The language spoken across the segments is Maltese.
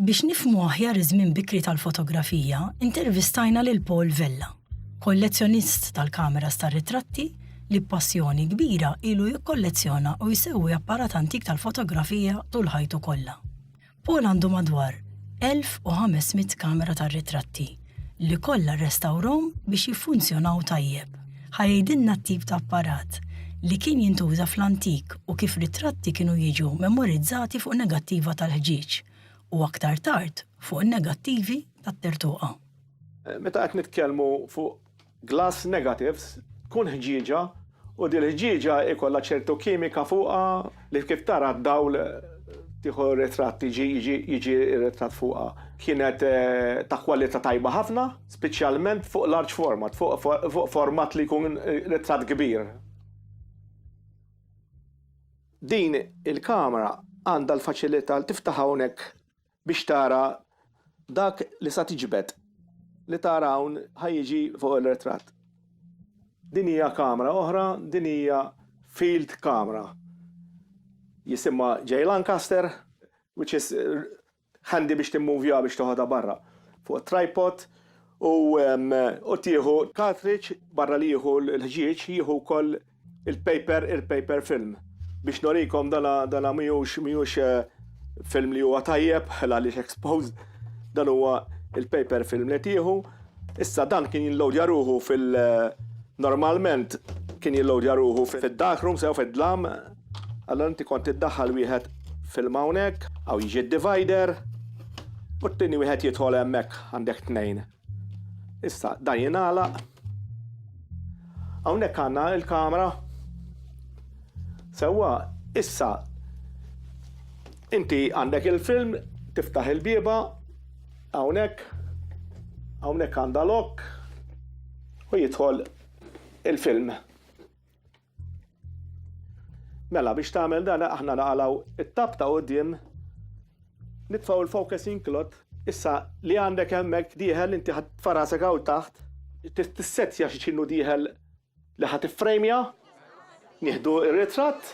Biex nifhmu aħjar iż-żmien bikri tal-fotografija, intervistajna lil Paul Vella, kollezzjonist tal-kameras tar-ritratti li b'passjoni kbira ilu jikkollezzjona u jsewwi apparat antik tal-fotografija tul ħajtu kollha. Paul għandu madwar 1,500 kamera tar-ritratti li kollha rrestawrhom biex jiffunzjonaw tajjeb. Ħa jgħidilna t-tip ta' apparat li kien jintuża fl-antik u kif ritratti kienu jiġu memorizzati fuq negattiva tal-ħġieġ u aktar tard fuq negattivi tat-tertuqa. Meta qed nitkellmu fuq glass negatives tkun ħġieġa u din il-ħġieġa jkollha ċertu kimika fuqha li kif tara d-dawl tieħu ritratt jiġi ritratt fuqha. Kienet ta' kwalità tajba ħafna, speċjalment fuq large format, fuq format li jkun ritratt kbir. Din il-kamra għandha l-faċilità li tiftaħ hawnhekk biex tara dak li sa tiġbed li tara hawn ħa jiġi fuq ir-ritratt. Din hija kamra oħra, din hija field camera. Jisimha J Lancaster which is handy biex timmovjaha biex toħodha barra fuq tripod u u tieħu cartridge barra li jieħu l-ħġieġ jieħu wkoll Il-paper, il-paper film. Biex norikom dana, dana miux, miux eh, film li huwa tajjeb, għaliex exposed, dan huwa il-paper film li tieħu. Issa dan kien jillodja ruħu fil- eh, normalment kien jillodja ruħu fil-dark room, sew fil-dlam, għallan inti kont iddaħħal wieħed film hawnhekk, għaw jiġi divider, u t-tini wieħed jidħol hemmhekk għandek tnejn. Issa dan jingħalaq. Hawnhekk għandna l-kamera. Sewwa, issa inti għandek il-film, tiftaħ il-bieba, hawnhekk, hawnhekk għandha lok u jidħol il-film. Mela biex tagħmel dan aħna naqalgħu it-tab ta' quddiem nitfgħu l-focusing cloth issa li għandek hemmhekk dieħel inti ħadd farasek hawn taħt tissettja xi x'inhu dieħel li ħadd iffrejmja nieħdu r-ritratt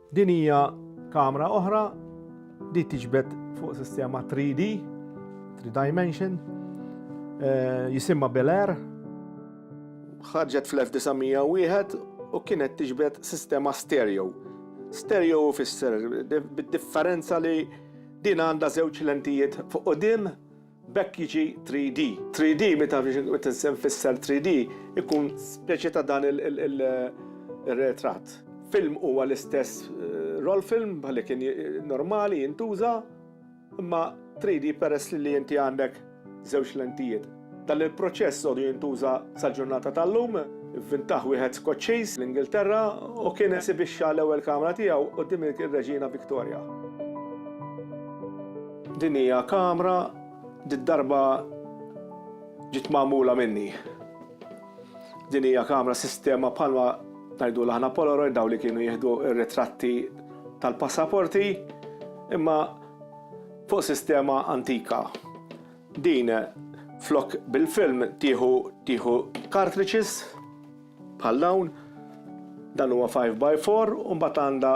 Din hija kamra oħra li tiġbed fuq sistema 3D, 3 dimension, eh, jisimma Bel Air. Ħarġet fl-1901 u kienet tiġbed sistema stereo. Stereo fisser bid-differenza li din għandha żewġ lentijiet fuq qudiem B'hekk jiġi 3D. 3D, meta nfisser 3D, ikun speċi ta' dan ir-retratt. Film huwa l-istess roll film bħal li kien normali jintuża, imma 3D peress li inti għandek żewġ lentijiet. Dan il-proċess għodu jintuża sal-ġurnata tal-lum, ivvintah wieħed Skoċċiż fl-Ingilterra u kien esibixxa l-ewwel kamra tiegħu quddiem ir-Reġina Victoria. Din hija kamra did-darba ġiet magħmula minni. Din hija kamra sistema bħalma ngħidulha aħna Polaroid dawn li kienu jieħdu r-ritratti tal-passaporti imma fuq sistema antika. Din flok bil-film tieħu tieħu cartridges Bħal dawn, dan huwa five by four u mbagħad għandha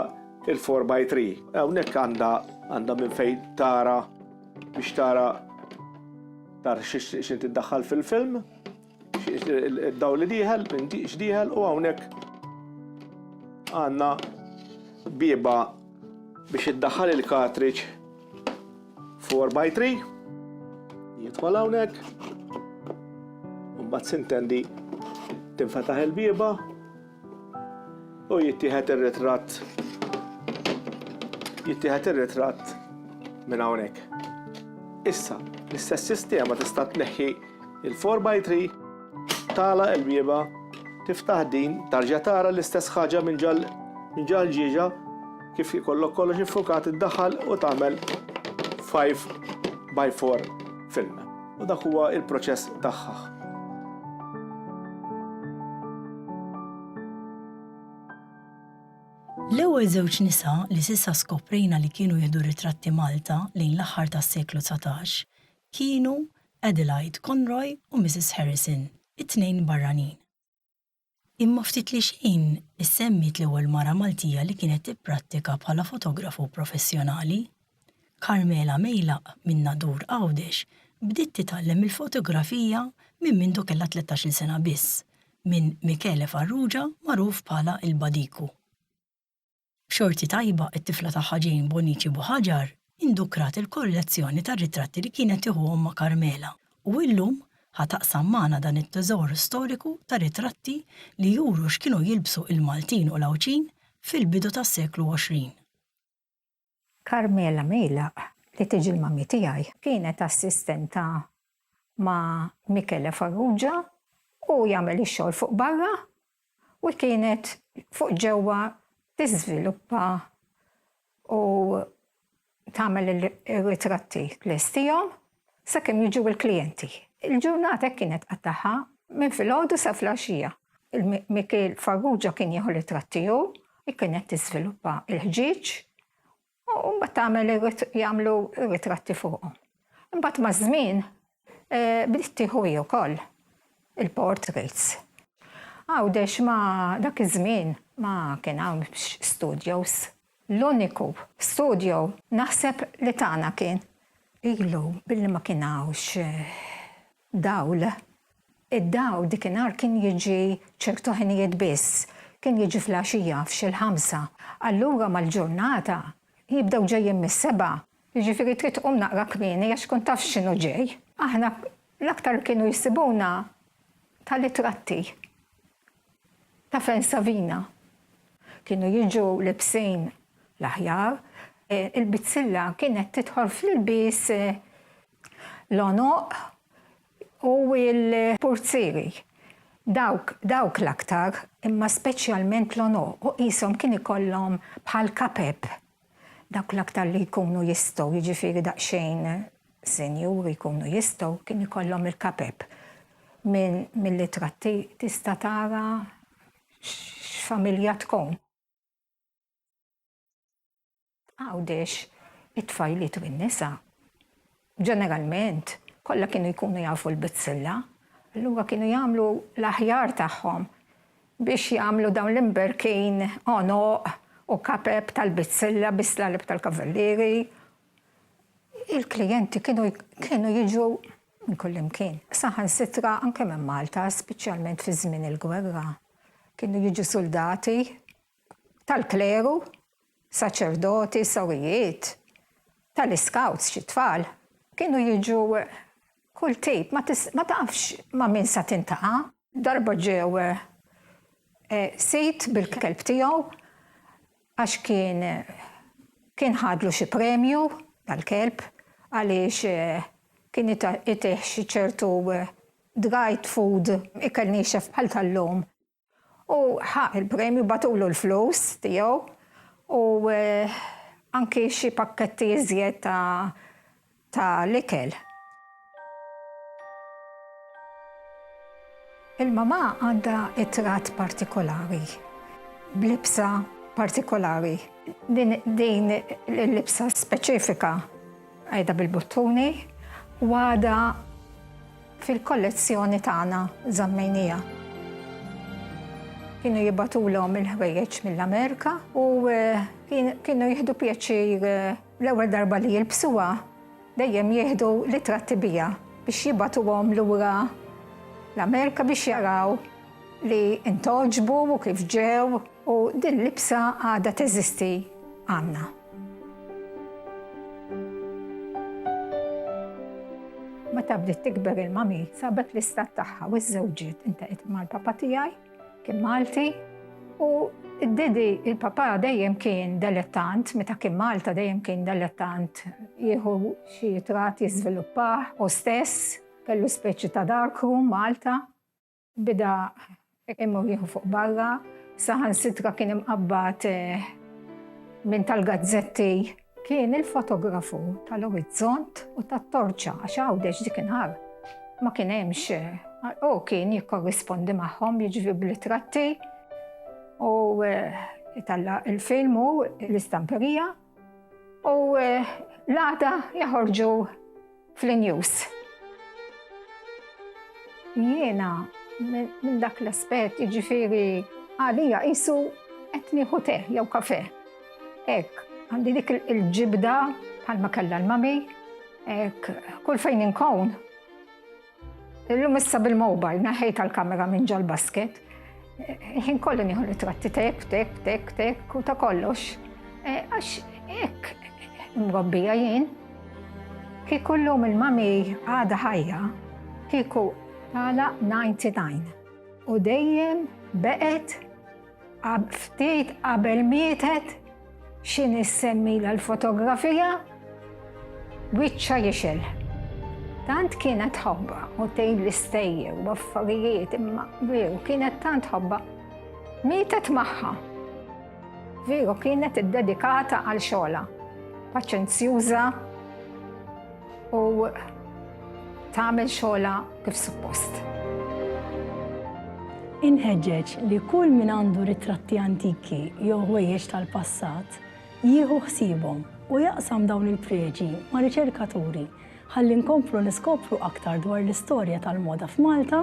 il-four by three. Hawnhekk għandha għandha minn fejn tara biex tara tar x'in tiddaħħal fil-film, id-dawl li dieħel, x'dieħel u hawnhekk għandna bieba biex iddaħħal il-cartridge 4 by 3 jidħol hawnhekk u mbagħad sintendi tinfetaħ il-bieba u jittieħed ir-ritratt jittieħed ir-ritratt minn hawnhekk. Issa, l-istess sistema tista' tneħħi il-4x3 Tagħlaq il-bieba, tiftaħ din, tarġa' tara l-istess ħaġa minn ġal minn ġal ġieġa kif ikollok kollox iffukat iddaħħal u tagħmel 5 by 4 film. U dak huwa il-proċess tagħha. L-ewwel żewġ nisa li s'issa skoprejna li kienu jieħdu ritratti Malta lejn l-aħħar tas-seklu dsatax kienu Adelaide Conroy u Mrs. Harrison, it-tnejn barranin. Imma ftit li xejn issemmiet l-ewwel mara Maltija li kienet tipprattika bħala fotografu professjonali. Carmela Meilaq minn Nadur Għawdex bdiet titgħallem il-fotografija minn mindu kellha tlettax-il sena biss, minn Michele Farrugia magħruf bħala il-Badiku. B'xorti tajba, it-tifla tagħha Jane Bonnici Buhagiar indukrat il-kollezzjoni tar-ritratti li kienet tieħu ommha Carmela u illum ħa taqsam magħna dan it-teżor storiku ta' ritratti li juru x'kienu jilbsu il-Maltin u l-Għawdxin fil-bidu tas-seklu 20. Carmela Meilaq, li tiġi l-mummy tiegħi, kienet assistenta ma' Michele Farrugia u jagħmel ix-xogħol fuq barra u kienet fuq ġewwa tiżviluppa u tagħmel ir-ritratti tlestihom sakemm jiġu l-klijenti. Il-ġurnata hekk kienet tqattagħha minn filgħodu sa flaxija. Il-Mikiel Farrugia kien jieħu l-itrat tiegħu, kienet tiżviluppa l-ħġieġ u mbagħad tagħmel jagħmlu ritratti fuqhom. Imbagħad maż-żmien eh, bdiet tieħu hi wkoll il-portraits. Għawdex ma dak iż-żmien ma kien hawn studios L-uniku studio naħseb li tagħna kien. Ilu billi ma kien hawnx dawl. Id-dawl dikinhar kien jiġi ċertu ħinijiet biss. Kien jiġi fl-għaxija f'xi l-ħamsa. Allura mal-ġurnata jibdew ġejjin mis-sebgħa. Jiġifieri trid tqum naqra kmieni għax tkun taf x'inhu ġej. Aħna l-aktar kienu jsibuna tal-itratti. Taf fejn Savina? Kienu jiġu libsin l-aħjar. Il-bizzilla kienet tidħol fl-ilbies l-għonoq u l-purzieri. Dawk, dawk l-aktar, imma speċjalment l-għonoq u qishom kien ikollhom bħal kapep. Dawk l-aktar li jkunu jistgħu, jiġifieri daqsxejn sinjuri jkunu jistgħu, kien ikollhom il-kapep. Minn mill-itratti tista' tara x'familja tkun. Għawdex, it-tfajliet u n-nisa Ġeneralment, kollha kienu jkunu jafu l-bizzilla, allura kienu jagħmlu l-aħjar tagħhom biex jagħmlu dawn l-imberkin għonoq u kapep tal-bizzilla bi slaleb tal-kavallieri. Il-klijenti kienu kienu jiġu minn kullimkien, saħansitra anke minn Malta, speċjalment fi żmien il-gwerra. Kienu jiġu suldati tal-kleru, saċerdoti, sorijiet, tal-iskawts, xi tfal, kienu jiġu kull tip, ma tafx ma' min sa tintaqa'. Darba ġew sid bil-kelb tiegħu għax kien kien ħadlu xi premju dal-kelb għaliex kien itih xi ċertu dried food, ikel niexef bħal tal-lum. U ħa il-premju, bagħtulu l-flus tiegħu u anki xi pakketti iżjed ta' ta' l-ikel. Il-mamà għandha it-tratt partikolari, b'libsa partikolari. Din il-libsa speċifika. Għaida bil-buttuni u għadha fil-kollezzjoni tagħna żammejnija. Kienu jibatulhom il-ħwejjeġ mill-Amerika u eh, kienu jieħdu pjaċir eh, l-ewwel darba li jilbsuha dejjem jieħdu li tratti bija biex jibatuhom lura l-Amerika biex jaraw li intoġbu u kif ġew u din libsa għadha teżisti għandna. Meta bdiet tikber il-mami, sabet l-istat tagħha u żżewġiet intaqgħet mal-papa tiegħi, kien Malti, u d-didi il-papa dejjem kien delettant, meta kien Malta dejjem kien delettant jieħu xi trat jiżviluppah u stess kellu speċi ta' darkroom Malta. Beda imur jieħu fuq barra, saħansitra kien imqabbad minn tal-gazzetti. Kien il-fotografu tal-orizzont u tat-torċa għax Għawdex dik inhar ma kien hemmx u kien jikkorrispondi magħhom jiġri bl-ittratti u jtalla' il-film u l-istamperija. U eh, l-għada jaħorġu fl-news. Jiena minn dak l-aspett jiġifieri għalija qisu qed nieħu te jew kafe. Ek, għandi dik il-ġibda bħalma kellha l-mami, ek, kull fejn inkun Illum issa bil-mobile naħejt tal-kamera minn ġal-basket. Ħin kollu nieħu ritratti tek, tek, tek, tek, u ta' kollox. E, għax ek, mrobbija jien, kieku l-lum il-mami għada ħajja, kieku għala 99. U dejjem beqet Ftit qabel mietet, xi nies semmilha l-fotografija, wiċċha jixgħel. Tant kienet ħobba u tgħid l-istejjer u affarijiet imma veru kienet tant ħobba. Mietet magħha. Veru kienet iddedikata għal xogħla. Paċenzjuża, u tagħmel xogħla kif suppost. Inħeġġeġ li kull min għandu ritratti antiki jew ħwejjeġ tal-passat jieħu ħsiebhom u jaqsam dawn il-preġi ma' riċerkaturi ħalli nkomplu niskopru aktar dwar l-istorja tal-moda f'Malta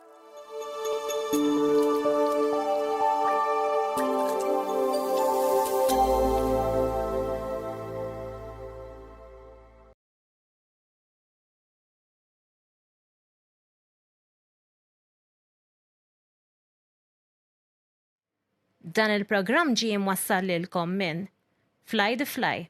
Dan il-programm ġie mwassal lilkom minn Fly the Fly.